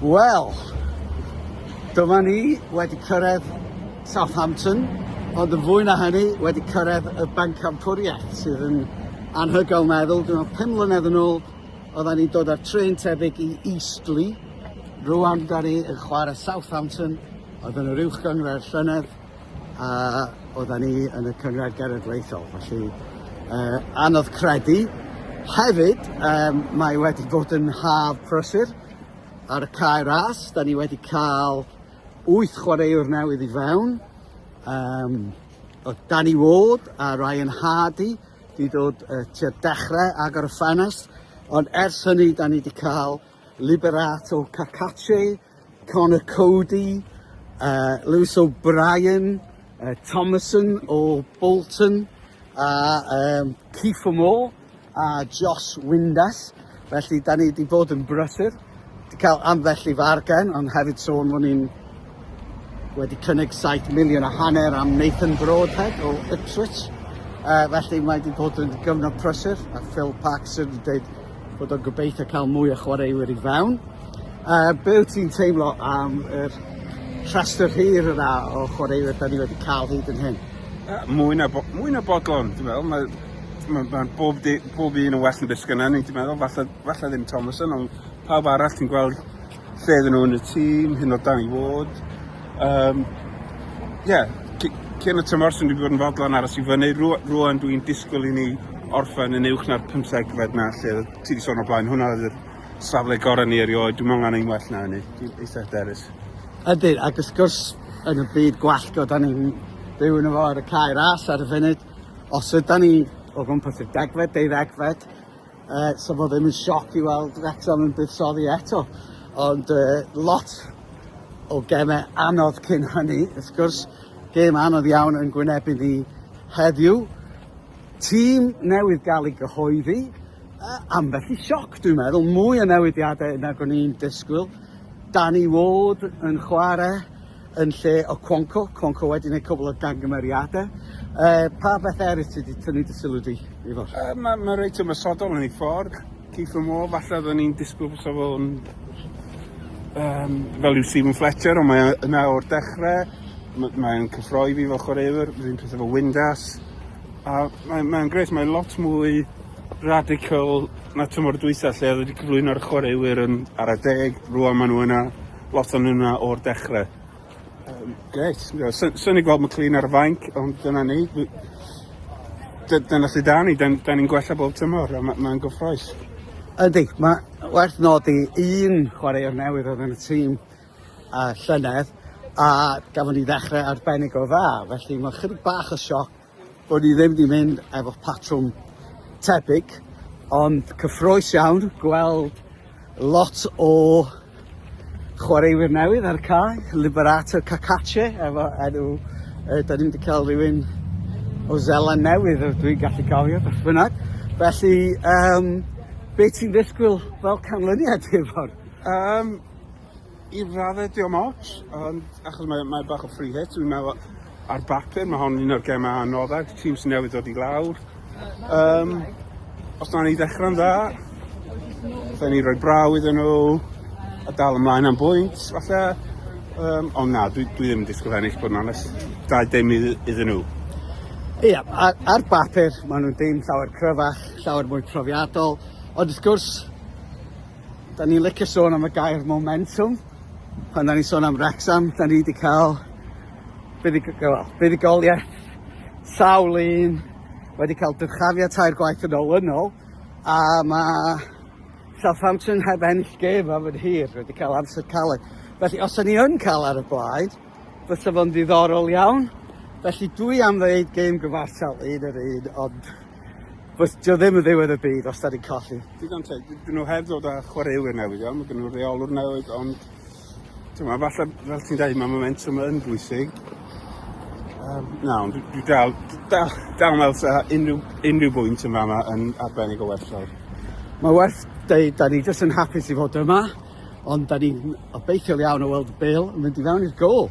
Wel, dyma ni wedi cyrraedd Southampton, ond yn fwy na hynny, wedi cyrraedd y Bencampwriaeth, sydd yn anhygoel meddwl. Dwi'n meddwl 5 mlynedd yn ôl, oedden ni'n dod ar tren tebyg i Eastleigh. Rwan, da ni yn chwarae Southampton, oedd yn yr uwchgynghrair llynedd. a oedda ni yn y Cynghrair Genedlaethol, felly uh, anodd credu. Hefyd, um, mae wedi bod yn haf prysur ar y cae ras, da ni wedi cael wyth chwaraewr newydd i fewn, um, o Danny Ward a Ryan Hardy, di dod uh, tua dechrau agor y ffenest, ond ers hynny da ni wedi cael Liberato Cacace, Conor Coady, uh, Lewis O'Brien, uh, Thomason o Bolton, a um, Keith Moore, a Josh Windass. Felly, da ni wedi bod yn brysur. Wedi cael ambell i fargen, ond hefyd sôn fod ni'n wedi cynnig 7 miliwn a hanner am Nathan Broadhead o Ipswich. Uh, felly mae wedi bod yn gyfnod prysur a Phil Paxson wedi dweud bod o'n gobeithio cael mwy o chwaraewyr i fewn. Uh, be wyt ti'n teimlo am yr rhestr hir yna o chwaraewyr da ni wedi cael hyd yn hyn? Uh, mwy, na bo, mwy na bodlon, ti'n meddwl. Mae ma, ma bob, di, bob un yn well yn beth sgynna ni, ti'n meddwl. Falle, falle ddim Thomason, ond pawb arall ti'n gweld Lle ydyn nhw yn y tîm, hyn o dan i fod. Um, yeah, cyn y tymor sy'n wedi bod yn fodlon aros i fyny, rwan dwi'n disgwyl i ni orffen yn uwch na'r 15 fed na lle ti wedi sôn o blaen. Hwna oedd yr safle gorau ni erioed, dwi'n meddwl angen well na hynny, dwi'n eitha hyderus. Ydy, ac ys gwrs yn y byd gwallgo, da ni'n byw yn y fo ar y cae ras ar y funud. Os yda ni o gwmpas y degfed, deuddegfed, Uh, so fod ddim yn sioc i weld Wrexham yn buddsoddi eto. Ond uh, lot o gemau anodd cyn hynny. Wrth gwrs, gêm anodd iawn yn gwynebu ni heddiw. Tîm newydd gael ei gyhoeddi, uh, ambell i sioc dwi'n meddwl, mwy o newidiadau nag o'n i'n disgwyl. Danny Ward yn chwarae, yn lle o Cwanco, Cwanco wedi gwneud cwbl o gangymeriadau. Uh, pa beth eraill ti wedi tynnu dy sylw di? Uh, mae ma reit ymwysodol yn ei ffordd. Keith Moore, falle oeddwn ni'n disgwyl fysa fo'n um, fel yw Stephen Fletcher, ond mae yna o'r dechrau, mae'n cyffroi fi fel chwaraewr, rhywun peth efo Windas, a mae'n mae gret, mae lot mwy radical na tymor dwysa lle oedd wedi cyflwyno'r chwaraewyr yn ar y deg, rwan maen nhw yna Lot o'n yna o'r dechre. Um, Greit, sy'n ei gweld McLean ar y fainc, ond dyna ni. Dyna lle da ni, da ni'n gwella bob tymor, a mae'n ma gyffroes. Ydy, mae werth nodi un chwaraewr newydd oedd yn y tîm a llynedd, a gafon ni ddechrau arbennig o dda, felly mae chydig bach o sioc Bod ni ddim wedi mynd efo patrwm tebyg, ond cyffroes iawn gweld lot o chwaraewyr newydd ar y cae, Liberato Cacace efo enw, uh, da ni'n wedi cael rhywun o Zela newydd, dwi'n gallu cofio beth bynnag. Felly, um, beth ti'n ddisgwyl fel canlyniad i'r ffordd? Um, I raddau diom ots, ond achos mae, mae bach o free hit, dwi'n meddwl ar bapur, mae hon un o'r gemau anoddau, tîm sy'n newydd dod i lawr. Um, os na ni ddechrau'n dda, fe ni roi braw iddyn nhw, a dal ymlaen am bwynt, falle. Um, ond na, dwi, dwi ddim yn disgwyl ennill bod yn onest. Da dim iddyn nhw. Ie, yeah, ar, ar bapur, maen nhw'n dim llawer cryfach, llawer mwy profiadol, ond wrth gwrs, Da ni'n licio sôn am y gair momentum. Pan da ni'n sôn am Wrexham, da ni wedi cael buddugoliaeth sawl un wedi cael dyrchafiad tair gwaith yn ôl yn ôl. A mae Southampton heb ennill gêm am yr hir wedi cael amser caled. Felly os da ni yn cael ar y blaen, fysa fo'n ddiddorol iawn. Felly dwi am ddeud gêm gyfartal un yr un, ond Wrth, dio ddim yn ddiwedd y byd os da ni'n colli. Digon te, dyn nhw heb ddod â chwaraewyr newydd iawn, mae gen nhw reolwr newydd, ond dyma, falle, fel ti'n dweud, mae momentum yn bwysig. Um, na, ond dwi dal, dal, dal meddwl sa unrhyw, unrhyw bwynt yn fama yn arbennig o werth o'r. Mae werth dweud, da ni jyst yn hapus i fod yma, ond da ni'n obeithiol iawn o weld Bill yn mynd i fewn i'r gol.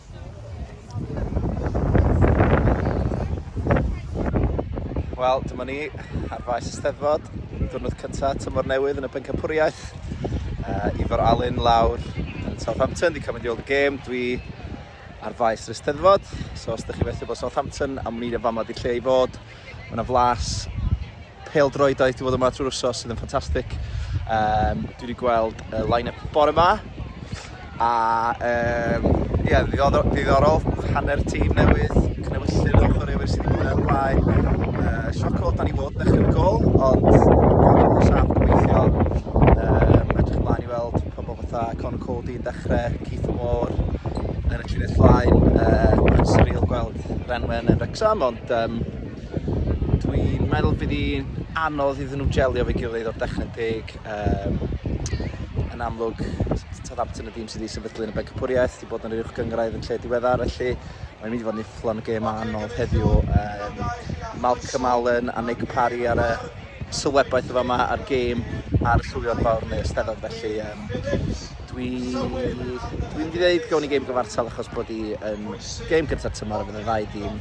Wel, dyma ni ar faes y steddfod, diwrnod cyntaf tymor newydd yn y Bencampwriaeth. Uh, Ifor Alun lawr yn Southampton, di cael mynd i weld y gêm, dwi ar faes yr steddfod. So os ydych chi felly bod Southampton, am ni am fama di lle i fod. Mae yna flas peldroediaeth wedi bod yma trwy'r wsos sydd yn ffantastig. Um, dwi wedi gweld y uh, line-up bore yma. A um, yeah, ddiddorol, ddiddorol hanner tîm newydd, cnewyllyn o chwaraewyr sydd wedi bod ar blaen. Uh, sioc o dan i fod yn y gol, ond yn saff gweithio. Um, edrych ymlaen i weld pobl fatha Con Cody yn dechrau, Keith Moore yn y llinell flaen. Uh, Mae'n surreal gweld Renwen yn Rexham, ond Yym dwi'n meddwl bydd hi'n anodd iddyn nhw jelio fe gilydd o'r dechrau'n deg. Um, yn amlwg, Southampton y dîm sydd wedi sefydlu yn y Bencapwriaeth, wedi bod yn yr uwch gyngraedd yn lle diweddar, felly mae'n mynd i fod yn ifflon y gêm anodd heddiw. Um, Malcolm Allen a Nick Parry ar y sylwebaeth yn fama a'r gêm a'r llwio'r fawr yn y Eisteddfod felly um, dwi dwi'n mynd i ddeud gawn ni gêm gyfartal achos bod i yn gêm gyntaf tymor a fydd y ddau dîm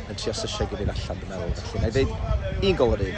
yn trio sysio gilydd allan dwi'n meddwl felly na i ddeud un gol yr un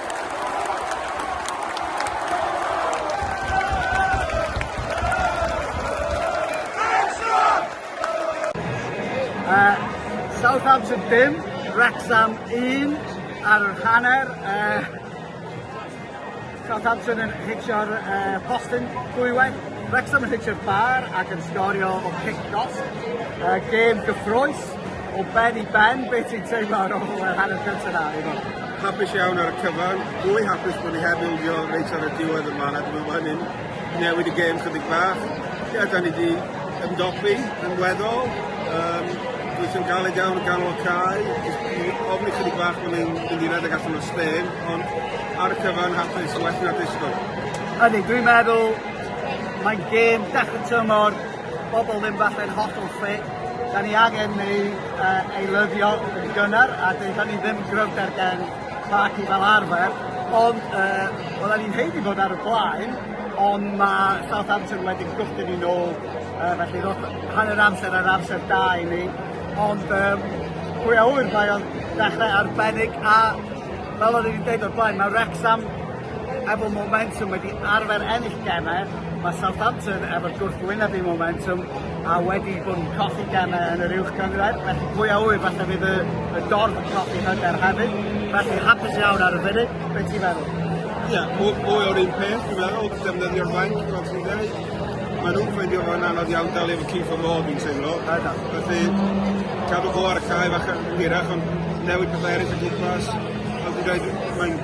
Southampton 5, Wrexham 1 ar yr hanner. Uh, Southampton yn hitio'r uh, postyn dwywaith. Wrexham yn hitio'r bar ac yn sgorio o cic dos. Uh, gêm gyffroes. O ben i ben, beth ti'n teimlo ar ôl yr hanner cyntaf na, Iwan? Hapus iawn ar y cyfan, fwy hapus bod ni heb ildio reit ar y diwedd yma, a dwi'n meddwl bod hynny'n newid y gêm chydig bach. Ie, da ni wedi ymdopi yn weddol, um, dwi'n sy'n galed iawn yn ganol y cae, ofni chydig bach bod ni'n mynd i redeg allan o Spain, ond ar y cyfan hapus, well na disgwyl. Ydy, dwi'n meddwl mae'n gêm dechrau tymor bobl ddim falle'n hollol ffit, 'dan ni angen neu uh, eilyddio yn gynnar a dyna ni ddim gryfder gen Parky fel arfer, ond uh, oedden ni'n heini fod ar y blaen, ond mae Southampton wedi gwrthyn ni nôl, uh, felly roedd hanner amser ar amser da i ni, ond um, pwy a ŵyr mae o'n dechrau arbennig a fel o'n i'n dweud o'r blaen, mae Wrexham efo momentum wedi arfer ennill gemau, mae Southampton efo gwrthwyneb i momentum a wedi bod yn colli gemau yn yr uwch gynghrair, felly pwy a ŵyr falle fydd y, y dorf yn colli hyder hefyd, felly hapus iawn ar y funud, beth ti'n meddwl? Ie, yeah, mwy, mwy o'r un peth, dwi'n meddwl, defnyddio'r fainc, fel ti'n dweud. Mae nhw'n ffeindio fo'n anodd iawn dal efo Keith o Modd, dwi'n teimlo. Felly, cadw fo ar y cae fach yn hirach, ond newid pethau eraill y gwmpas. Fel dwi'n dweud, mae'n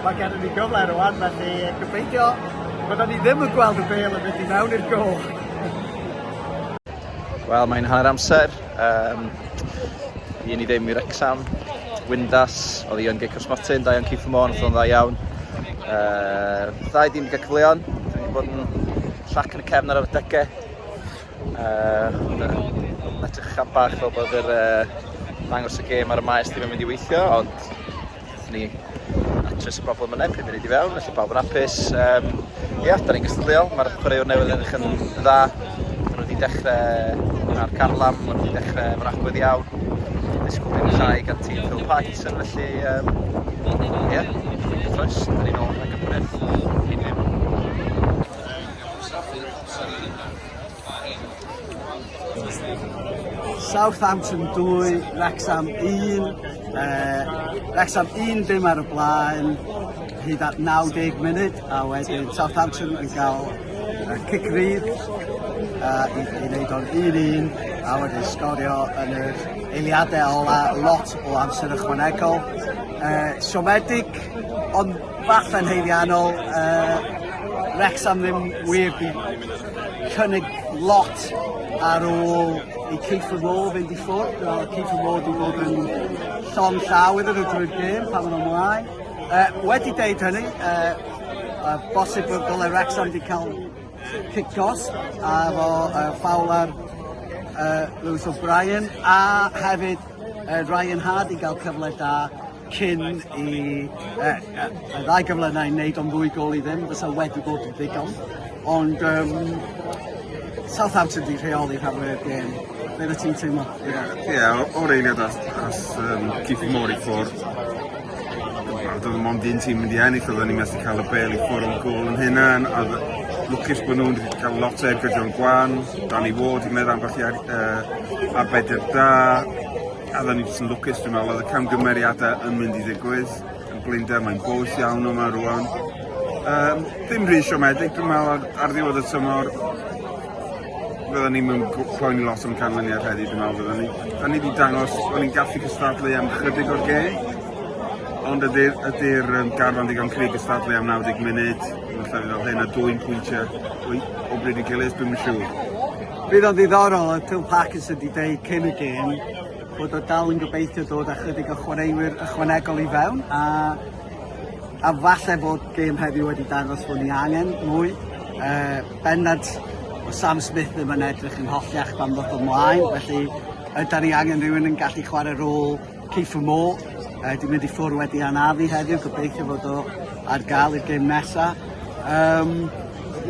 Mae gennym ni gyfle rwan, felly gobeithio byddwn ni ddim yn gweld y bel yn mynd i mewn i'r gol. Wel, mae'n hanner amser. Um, I ni ddim i'r exam. Windas, oedd i yn Geic Osmotin, da iawn Keith Moore, oedd o'n dda iawn. Uh, ddau ddim gael cyfleon, dwi wedi bod yn llac yn y cefn ar y degau. Uh, edrych am bach fel bod yr uh, dangos y gêm ar y maes ddim yn mynd i weithio, ond Nethon ni atres y problem yne, pum munud i fewn, felly pawb yn apus. Um, ia, da ni'n gystadleuol, mae'r chwaraewr newydd yn eich yn dda. Maen nhw wedi dechrau mwynhau'r carlam, maen nhw wedi dechrau efo'r agwedd iawn. Disgwyl dim llai gan tîm Phil Parkinson, felly um, ia, ffwrdd cyffroes, da ni'n ôl rhag y pwriaeth. Cyn ddim. Southampton 2, Wrexham 1, uh, Wrexham 1 dim ar y blaen hyd at 90 munud a wedyn Southampton yn cael uh, cic rydd uh, i, i wneud o'n 1-1 a wedyn sgorio yn yr eiliadau ola lot o amser ychwanegol. Uh, siomedig ond falle'n heiddiannol uh, Wrexham ddim wir cynnig lot ar ôl i Keith the Roar fynd i ffwrdd. Wel, Keith the Roar wedi bod yn llon llaw iddyn nhw drwy'r gêm pan o'n ymlaen. Uh, wedi deud hynny, uh, uh, bosib bod dylai Wrexham wedi cael cicos a fo uh, ffawl ar uh, Lewis O'Brien a hefyd uh, Ryan Hardy gael cyfle da cyn i yy yy y ddau gyflynau wneud o'n ddwy gol i ddim fysa wedi bod yn ddigon ond um, Southampton di rheoli rhan fwyaf gêm. Be oeddet ti'n teimlo? Ie, yeah, yeah, o'r eiliad as, as um, Keith Moore i ffwrdd. Doedd yn mond un tîm mynd i ennill, oedden ni'n methu cael y bel i ffwrdd o'n gol yn hynna. A lwcus bod nhw'n wedi cael lot o ergyd o'n gwan, Danny Ward i meddwl ambell i ar, uh, arbedr da, A da ni jyst yn lwcus dwi'n meddwl oedd y camgymeriadau yn mynd i ddigwydd yn blinder, mae'n boeth iawn yma rwan. Um, ddim rhy siomedig dwi'n meddwl ar, ar ddiwedd y tymor fydda ni mewn poeni lot am canlyniad heddi dwi'n meddwl fydda ni. Da ni wedi dangos bod ni'n gallu cystadlu am chydig o'r gêm, ond ydy'r ydy um, garfan ddigon cri gystadlu am 90 munud, yn lle fel hyn a dwy'n pwyntiau o bryd i gilydd, dwi'n siŵr. Bydd o'n ddiddorol, oedd Phil Parkinson wedi dweud cyn y gêm bod o dal yn gobeithio dod â chydig o chwaraewyr ychwanegol i fewn a, a falle bod gêm heddiw wedi dangos bod ni angen mwy. Uh, bennad o Sam Smith ddim yn edrych yn hollach pan ddoth ymlaen, felly ydy ni angen rhywun yn gallu chwarae rôl Kiefer Moore, uh, di mynd i ffwrdd wedi anafu heddiw, gobeithio fod o ar gael i'r gêm nesaf. Um,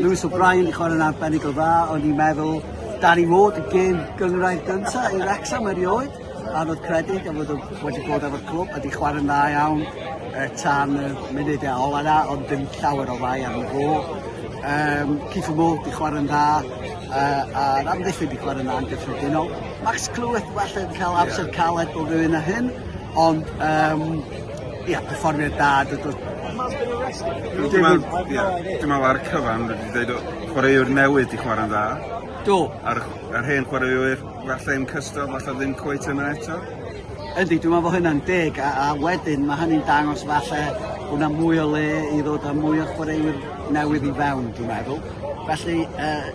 Lewis O'Brien i chwarae'n arbennig o dda, o'n i'n meddwl Danny Ward y gêm gyngrair gyntaf i Wrexham erioed, a roedd credyd a fod wedi bod efo'r clwb a di chwarae'n dda iawn e, tan y munud e ola na, ond dim llawer o fai arno fo. Um, Keith Moore di chwarae'n dda, uh, a'r amddiffyn di chwarae'n dda yn gyffredinol. Max Clwyd well yn cael amser caled bob hyn na hyn, ond um, ia, perfformiad da. Dwi'n meddwl ar y cyfan, dwi'n dweud chwaraewr newydd i chwarae'n dda. Do. A'r, ar hen chwaraewyr, falle yn cystal, falle ddim cweit yna eto. Ydy, dwi'n meddwl bod hynna'n deg, a, a wedyn mae hynny'n dangos falle bod yna mwy o le i ddod â mwy o chwaraewyr newydd i fewn, dwi'n meddwl. Felly, uh,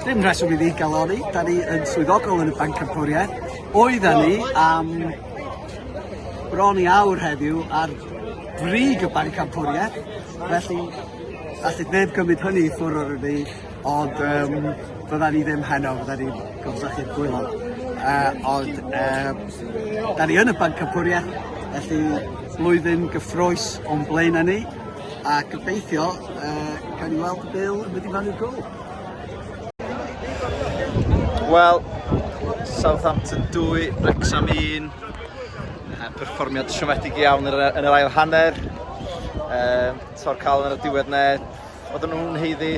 dim rheswm i ni galori, da ni yn swyddogol yn y Banc Cympwriaeth. Oedda ni am bron i awr heddiw ar brig y Banc Cympwriaeth, felly allai neb gymryd hynny i ffwrdd o'r ni, ond um, bydda ni ddim heno, bydda ni'n gofsach i'r gwylo. Uh, ond uh, da ni yn y Banc Cympwriaeth, felly flwyddyn gyffroes o'n blaen ni, A gobeithio yy cawn ni weld Bill yn mynd i Manu Cool. Wel, Southampton 2, Wrexham 1. Perfformiad siomedig iawn yn yr ail hanner. Um, Tor cael yn y diwedd ne. Oedden nhw'n heiddi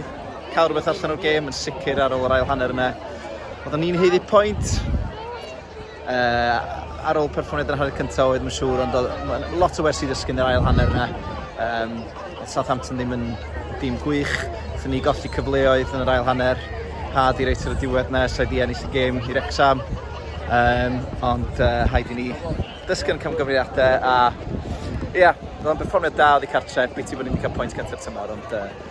cael rhywbeth allan o'r gêm yn sicr ar ôl yr ail hanner yna. Oedden ni'n heiddi pwynt. Yy ar ôl perfformiad yn y hanner cynta' oedd ma'n siŵr ond odd ma' lot o wersi i ddysgu yn yr ail hanner 'na. Yym odd Southampton ddim yn dîm gwych. Nathon ni golli cyfleoedd yn yr ail hanner. Hard i reit ar y diwedd 'na ers rhaid i ennill y gêm i Wrecsam. Yym ond yy rhaid i ni dysgu o'n camgymeriade a ia, odd o'n berfformiad da oddi cartre', biti bo' ni'm 'di ca'l point cynta'r tymor ond yy